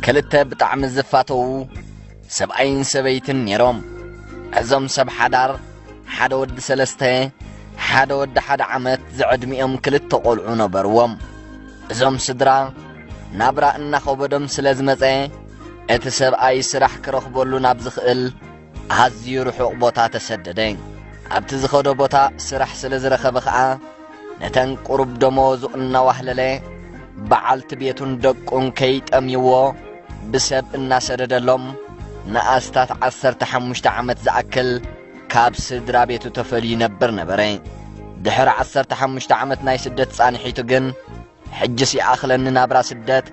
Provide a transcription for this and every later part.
ክልተ ብጣዕሚ ዝፋተዉ ሰብኣይን ሰበይትን ነይሮም እዞም ሰብ ሓዳር ሓደ ወዲ ሰለስተ ሓደ ወዲ ሓደ ዓመት ዝዕድሚኦም ክልተ ቖልዑ ነበርዎም እዞም ስድራ ናብራ እናኸበዶም ስለ ዝመጸ እቲ ሰብኣይ ስራሕ ክረኽበሉ ናብ ዝኽእል ኣዝዩ ርሑቕ ቦታ ተሰደደ ኣብቲ ዝኸዶ ቦታ ስራሕ ስለ ዝረኸበ ኸኣ ነተን ቁሩብ ደሞዙ እናዋህለለ በዓልቲ ቤቱን ደቁን ከይጠምይዎ ብሰብ እናሰደደሎም ንኣስታት ዓሰርተ ሓሙሽተ ዓመት ዝኣክል ካብ ስድራ ቤቱ ተፈልዩ ይነብር ነበረ። ድሕሪ ዓሰርተ ሓሙሽተ ዓመት ናይ ስደት ጻንሒቱ ግን ሕጅስ ይኣኽለኒ ናብራ ስደት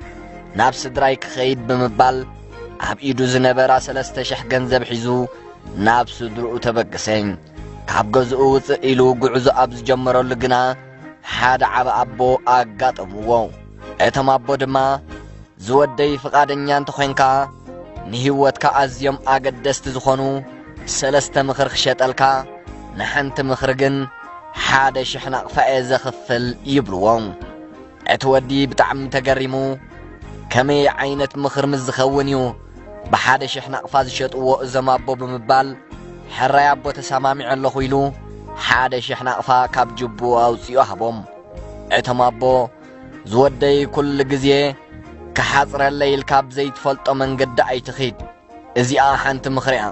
ናብ ስድራይ ክኸይድ ብምባል ኣብ ኢዱ ዝነበራ ሰለስተ ሽሕ ገንዘብ ሒዙ ናብ ስድርኡ ተበግሰኝ ካብ ገዝኡ ውፅእ ኢሉ ጉዕዞ ኣብ ዝጀመረሉ ግና ሓደ ዓበ ኣቦ ኣጋጠምዎ እቶም ኣቦ ድማ ዝወደይ ፍቓደኛ እንተኾይንካ ንህይወትካ ኣዝዮም ኣገደስቲ ዝኾኑ ሰለስተ ምኽሪ ክሸጠልካ ንሓንቲ ምኽሪ ግን ሓደ ሽሕ ናቕፋ እየ ዘኽፍል ይብልዎ። እቲ ወዲ ብጣዕሚ ተገሪሙ ከመይ ዓይነት ምኽሪ ምስ ዝኸውን እዩ ብሓደ ሽሕ ናቕፋ ዝሸጥዎ እዞም ኣቦ ብምባል ሕራይ ኣቦ ተሰማሚዐ ኣለኹ ኢሉ ሓደ ሽሕ ናቕፋ ካብ ጅብኡ ኣውፂኡ ሃቦም። እቶም ኣቦ ዝወደይ ኩሉ ግዜ ክሓፅረለይ ኢልካ ብዘይትፈልጦ መንገዲ ኣይትኺድ እዚኣ ሓንቲ ምኽሪ'ያ።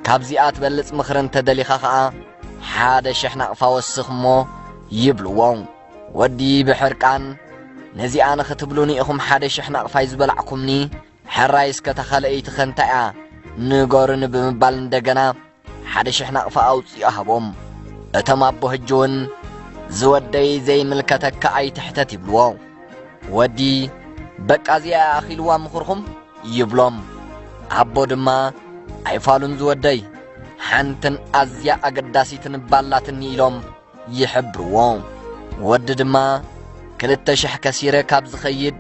ካብዚኣ ትበልጽ ምኽሪ እንተ ደሊኻ ኸኣ ሓደ ሽሕ ናቕፋ ወስኽ እሞ ይብልዎ ወዲ ብሕርቃን። ነዚኣ ንኽትብሉኒ ኢኹም ሓደ ሽሕ ናቕፋይ ዝበላዕኩምኒ? ሕራይስ ከ'ታ ካልኣይቲኸ እንታይ'ያ ንገሩኒ ብምባል እንደገና ሓደ ሽሕ ናቕፋ ኣውጺኡ ሃቦም እቶም ኣቦ ሕጂ እውን ዝወደይ ዘይምልከተካ ኣይትሕተት ይብልዎ ወዲ በቃ እዚኣ ኣኺልዋ ምኽርኹም ይብሎም ኣቦ ድማ ኣይፋሉን ዝወደይ ሓንትን ኣዝያ ኣገዳሲትን ባላትኒ ኢሎም ይሕብርዎ ወዲ ድማ ክልተ ሽሕ ከሲረ ካብ ዝኸይድ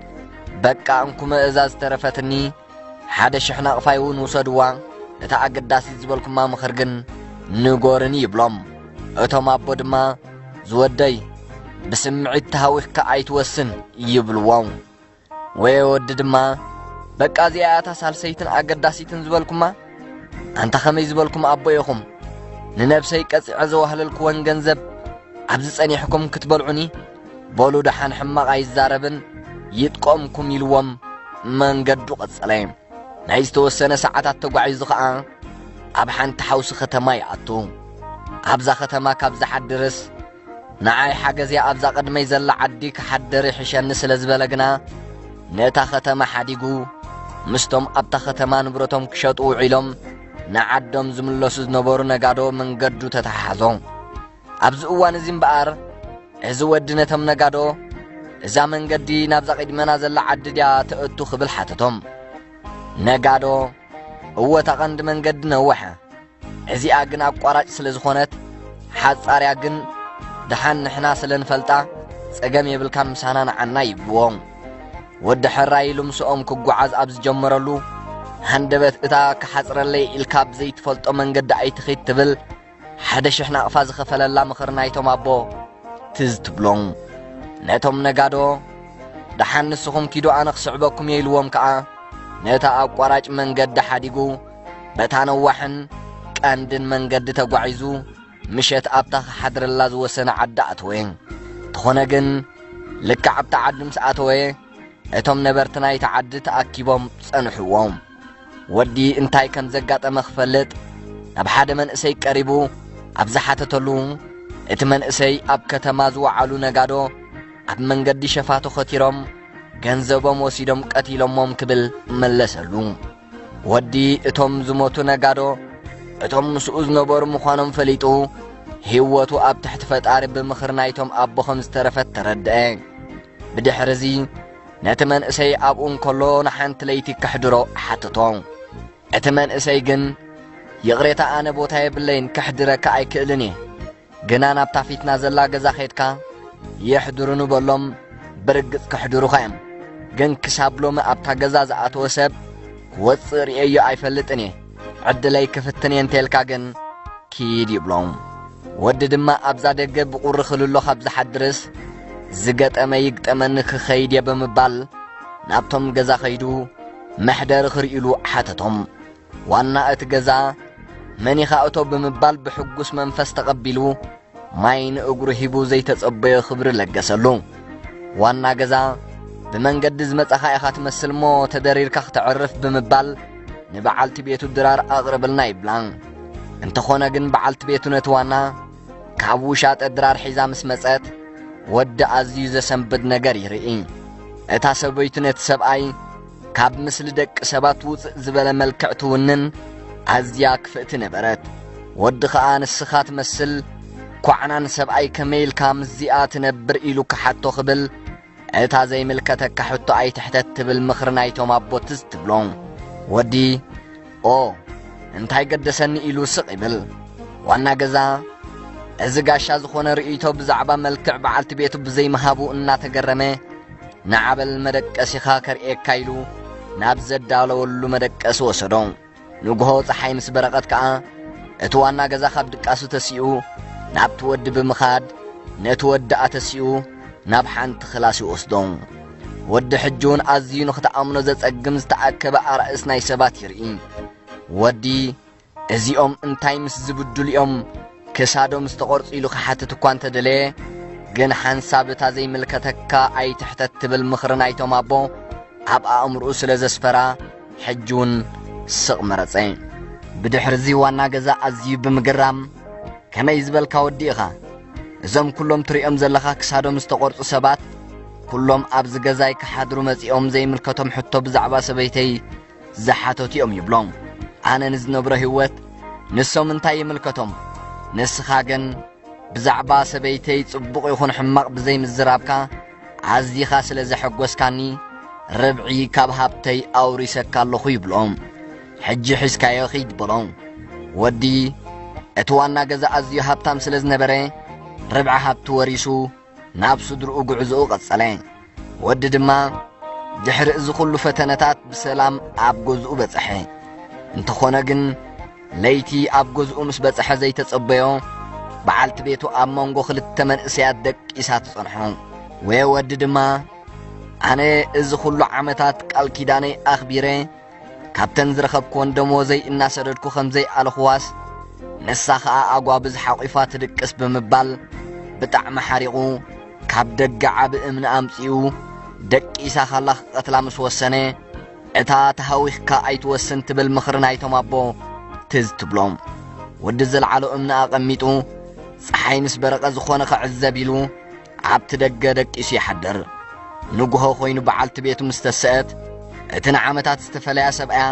በቃ እንኩመ እዛ ዝተረፈትኒ ሓደ ሽሕ ናቕፋይ እውን ውሰድዋ እታ ኣገዳሲት ዝበልኩማ ምኽር ግን ንጎርኒ ይብሎም እቶም ኣቦ ድማ ዝወደይ ብስምዒት ተሃዊኽካ ኣይትወስን ይብልዎ ወየ ወዲ ድማ በቃ እዚኣ እያ እታ ሳልሰይትን ኣገዳሲትን ዝበልኩማ ኣንታ ኸመይ ዝበልኩም ኣቦ ኢኹም ንነብሰይ ቀጺዐ ዘዋህለልክወን ገንዘብ ኣብዚ ጸኒሕኩም ክትበልዑኒ በሉ ደሓን ሕማቕ ኣይዛረብን ይጥቆምኩም ኢልዎም መንገዱ ቐጸለ ናይ ዝተወሰነ ሰዓታት ተጓዒዙ ኸዓ ኣብ ሓንቲ ሓውሲ ኸተማ ይኣቱ ኣብዛ ኸተማ ካብ ዝሓድርስ ንዓይ ሓገዝያ ኣብዛ ቐድመይ ዘላ ዓዲ ክሓደር ይሕሸኒ ስለ ዝበለ ግና ነታ ኸተማ ሓዲጉ ምስቶም ኣብታ ኸተማ ንብረቶም ክሸጡ ውዒሎም ንዓዶም ዝምለሱ ዝነበሩ ነጋዶ መንገዱ ተተሓሓዞ ኣብዚ እዋን እዚ እምበኣር እዚ ወዲ ነቶም ነጋዶ እዛ መንገዲ ናብዛ ቂድመና ዘላ ዓዲ ድያ ተእቱ ክብል ሓተቶም ነጋዶ እወ እታ ቐንዲ መንገዲ ነወሐ እዚኣ ግን ኣቋራጭ ስለ ዝኾነት ሓጻርያ ግን ድሓን ንሕና ስለ ንፈልጣ ጸገም የብልካን ምሳና ንዓና ይብልዎ ወዲ ሕራይ ኢሉ ምስኦም ክጓዓዝ ኣብ ዝጀመረሉ ሃንደበት እታ ክሓጽረለይ ኢልካ ብዘይትፈልጦ መንገዲ ኣይትኺድ ትብል ሓደ ሽሕ ናቕፋ ዝኸፈለላ ምኽሪ ናይቶም ኣቦ ትዝ ትብሎም። ነቶም ነጋዶ ደሓን ንስኹም ኪዱ ኣነ ክስዕበኩም እየ ኢልዎም ከኣ ነታ ኣቋራጭ መንገዲ ሓዲጉ በታ ነዋሕን ቀንድን መንገዲ ተጓዒዙ ምሸት ኣብታ ክሓድረላ ዝወሰነ ዓዲ ኣተወ። እንተኾነ ግን ልክዕ ኣብታ ዓዲ ምስ ኣተወ እቶም ነበርቲ ናይቲ ዓዲ ተኣኪቦም ጸንሕዎም። ወዲ እንታይ ከም ዘጋጠመ ክፈልጥ ናብ ሓደ መንእሰይ ቀሪቡ ኣብ ዝሓተተሉ እቲ መንእሰይ ኣብ ከተማ ዝወዓሉ ነጋዶ ኣብ መንገዲ ሸፋቱ ኸቲሮም ገንዘቦም ወሲዶም ቀቲሎሞም ክብል መለሰሉ። ወዲ እቶም ዝሞቱ ነጋዶ እቶም ምስኡ ዝነበሩ ምዃኖም ፈሊጡ ህይወቱ ኣብ ትሕቲ ፈጣሪ ብምኽሪ ናይቶም ኣቦ ኸም ዝተረፈት ተረድአ። ብድሕሪ እዚ ነቲ መንእሰይ ኣብኡ እንከሎ ንሓንቲ ለይቲ ከሕድሮ ሓተቶ እቲ መንእሰይ ግን ይቕሬታ ኣነ ቦታ የብለይን ከሕድረካ ኣይክእልን እየ ግና ናብታ ፊትና ዘላ ገዛ ኼድካ የሕድሩኑ በሎም ብርግጽ ከሕድሩኻ እዮም ግን ክሳብ ሎሚ ኣብታ ገዛ ዝኣተወ ሰብ ክወጽእ ርእየዮ ኣይፈልጥን እየ ዕድለይ ክፍትን እየ እንተልካ ግን ኪድ ይብሎ ወዲ ድማ ኣብዛ ደገ ብቑሪ ክልሎ ካብ ዝሓድርስ ዝገጠመ ይግጠመኒ ክኸይድ እየ ብምባል ናብቶም ገዛ ኸይዱ መሕደሪ ክርእሉ ሓተቶም ዋና እቲ ገዛ መን ኢኻ እቶ ብምባል ብሕጉስ መንፈስ ተቐቢሉ ማይ ንእግሩ ሂቡ ዘይተጸበዮ ክብሪ ለገሰሉ። ዋና ገዛ ብመንገዲ ዝመጻኻ ኢኻ ትመስል እሞ ተደሪርካ ክተዕርፍ ብምባል ንበዓልቲ ቤቱ ድራር ኣቕርብልና ይብላ። እንተኾነ ግን በዓልቲ ቤቱ ነቲ ዋና ካብ ውሻጠ ድራር ሒዛ ምስ መጸት ወዲ ኣዝዩ ዘሰንብድ ነገር ይርኢ። እታ ሰበይቱ ነቲ ሰብኣይ ካብ ምስሊ ደቂ ሰባት ውፅእ ዝበለ መልክዕ ትውንን ኣዝያ ክፍእቲ ነበረት ወዲ ኸዓ ንስኻ ትመስል ኳዕናን ሰብኣይ ከመይ ኢልካ ምስዚኣ ትነብር ኢሉ ክሓቶ ክብል እታ ዘይምልከተካ ሕቶ ኣይትሕተት ትብል ምኽሪ ናይቶም ኣቦትስ ትብሎ ወዲ ኦ እንታይ ገደሰኒ ኢሉ ስቕ ይብል ዋና ገዛ እዚ ጋሻ ዝኾነ ርእይቶ ብዛዕባ መልክዕ በዓልቲ ቤቱ ብዘይምሃቡ እናተገረመ ንዓበል መደቀሲኻ ከርእየካ ኢሉ ናብ ዘዳለወሉ መደቀሲ ወሰዶ ንግሆ ፀሓይ ምስ በረቐት ከኣ እቲ ዋና ገዛ ካብ ድቃሱ ተሲኡ ናብቲ ወዲ ብምኻድ ነቲ ወዲ ኣተሲኡ ናብ ሓንቲ ክላስ ይወስዶ ወዲ ሕጁን ኣዝዩ ንኽትኣምኖ ዘጸግም ዝተኣከበ ኣራእስ ናይ ሰባት ይርኢ ወዲ እዚኦም እንታይ ምስ ዝብድሉ እዮም ክሳዶም ዝተቖርጹ ኢሉ ክሓትት እኳ እንተደለየ ግን ሓንሳብ እታ ዘይምልከተካ ኣይትሕተት ትብል ምኽሪ ናይቶም ኣቦ ኣብ ኣእምርኡ ስለ ዘስፈራ ሕጂ እውን ስቕ መረጸ ብድሕርዚ ዋና ገዛ ኣዝዩ ብምግራም ከመይ ዝበልካ ወዲ ኢኻ እዞም ኩሎም ትሪኦም ዘለኻ ክሳዶም ዝተቖርጹ ሰባት ኩሎም ኣብዚ ገዛይ ክሓድሩ መጺኦም ዘይምልከቶም ሕቶ ብዛዕባ ሰበይተይ ዝሓተቱ እዮም ይብሎም ኣነ ንዝነብሮ ህይወት ንሶም እንታይ ይምልከቶም ንስኻ ግን ብዛዕባ ሰበይተይ ጽቡቕ ይኹን ሕማቕ ብዘይምዝራብካ ኣዚኻ ስለ ዘሐጐስካኒ ርብዒ ካብ ሃብተይ ኣውሪሰካ ኣለኹ ይብሎም ሕጂ ሒዝካዮ ኺድ በሎ ወዲ እቲ ዋና ገዛ ኣዝዩ ሃብታም ስለ ዝነበረ ርብዒ ሃብቲ ወሪሱ ናብ ስድርኡ ጉዕዞኡ ቀጸለ ወዲ ድማ ድሕሪ እዚ ዅሉ ፈተነታት ብሰላም ኣብ ገዝኡ በጽሐ እንተኾነ ግን ለይቲ ኣብ ገዝኡ ምስ በጽሐ ዘይተጸበዮ በዓልቲ ቤቱ ኣብ መንጎ ኽልተ መንእሰያት ደቂሳ ትጸንሖ ወየ ወዲ ድማ ኣነ እዚ ዅሉ ዓመታት ቃል ኪዳነይ ኣኽቢረ ካብተን ዝረኸብክወን ደሞዘይ እናሰደድኩ ከም ዘይኣለኽዋስ ንሳ ኸኣ ኣጓብዝ ሓቝፋ ትድቅስ ብምባል ብጣዕሚ ሓሪቑ ካብ ደገ ዓቢ እምኒ ኣምጺኡ ደቂሳ ካላ ክቐትላ ምስ ወሰነ እታ ተሃዊኽካ ኣይትወስን ትብል ምኽሪ ናይቶም ኣቦ ትዝ ትብሎም ወዲ ዘለዓሎ እምኒ ኣቐሚጡ ፀሓይ ምስ በረቐ ዝኾነ ክዕዘብ ኢሉ ኣብቲ ደገ ደቂሱ ይሓድር ንግሆ ኮይኑ በዓልቲ ቤቱ ምስ ተሰአት እቲ ንዓመታት ዝተፈለያ ሰብኣያ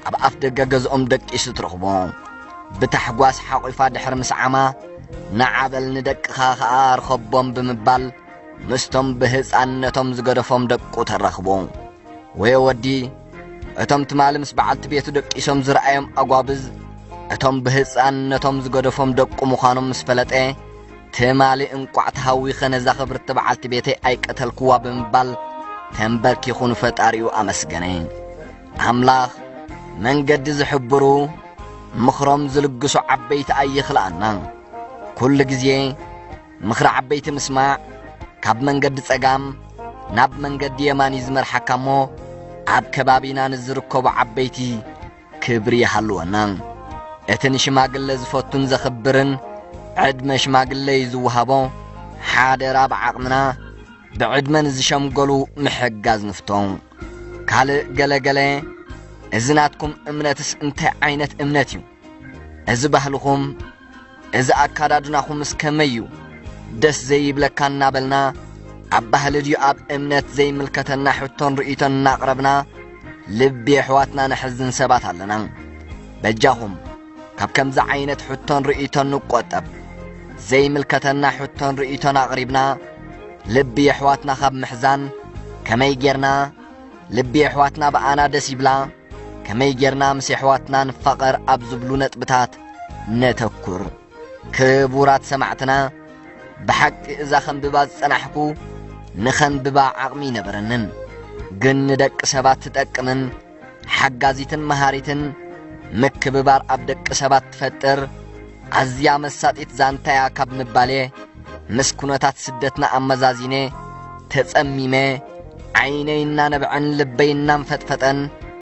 ኣብ ኣፍ ደገ ገዝኦም ደቂሱ ትረኽቦ ብታሕጓስ ሓቝፋ ድሕሪ ምስዓማ ንዓበል ንደቅኻ ኸኣ ርኸቦም ብምባል ምስቶም ብህፃንነቶም ዝገደፎም ደቁ ተራኽቦ ወየ ወዲ እቶም ትማሊ ምስ በዓልቲ ቤቱ ደቂሶም ዝረኣዮም ኣጓብዝ እቶም ብህፃንነቶም ዝገደፎም ደቁ ምዃኖም ምስ ፈለጠ ትማሊ እንቋዕ ተሃዊኸ ነዛ ኽብርቲ በዓልቲ ቤተይ ኣይቀተልክዋ ብምባል ተንበርኪኹ ንፈጣሪኡ ኣመስገነ። ኣምላኽ መንገዲ ዝሕብሩ ምኽሮም ዝልግሱ ዓበይቲ ኣይኽልኣና። ኩሉ ግዜ ምኽሪ ዓበይቲ ምስማዕ ካብ መንገዲ ጸጋም ናብ መንገዲ የማን እዩ ዝመርሓካ እሞ ኣብ ከባቢና ንዝርከቡ ዓበይቲ ክብሪ ይሃልወና። እቲ ንሽማግለ ዝፈቱን ዘኽብርን ዕድመ ሽማግለ እዩ ዝወሃቦ። ሓደራ ብዓቕምና ብዕድመ ንዝሸምገሉ ምሕጋዝ ንፍቶ። ካልእ ገለገለ እዚ ናትኩም እምነትስ እንታይ ዓይነት እምነት እዩ? እዚ ባህልኹም እዚ ኣካዳድናኹምስ ከመይ እዩ ደስ ዘይብለካ እናበልና ኣብ ባህሊ ድዩ ኣብ እምነት ዘይምልከተና ሕቶን ርእይቶን እናቕረብና ልቢ ኣሕዋትና ነሕዝን ሰባት ኣለና በጃኹም ካብ ከምዚ ዓይነት ሕቶን ርእይቶን ንቆጠብ ዘይምልከተና ሕቶን ርእይቶን ኣቕሪብና ልቢ ኣሕዋትና ካብ ምሕዛን ከመይ ጌርና ልቢ ኣሕዋትና ብኣና ደስ ይብላ ከመይ ጌርና ምስ ኣሕዋትና ንፋቐር ኣብ ዝብሉ ነጥብታት ነተኩር ክቡራት ሰማዕትና ብሓቂ እዛ ኸንብባ ዝጸናሕኩ ንኸንብባ ዓቕሚ ይነበረንን ግን ንደቂ ሰባት ትጠቅምን ሓጋዚትን መሃሪትን ምክብባር ኣብ ደቂ ሰባት ትፈጥር ኣዝያ መሳጢት ዛንታያ ካብ ምባሌ ምስ ኩነታት ስደትና ኣመዛዚነ ተጸሚመ ዓይነይ እናነብዐን ልበይ እናንፈጥፈጠን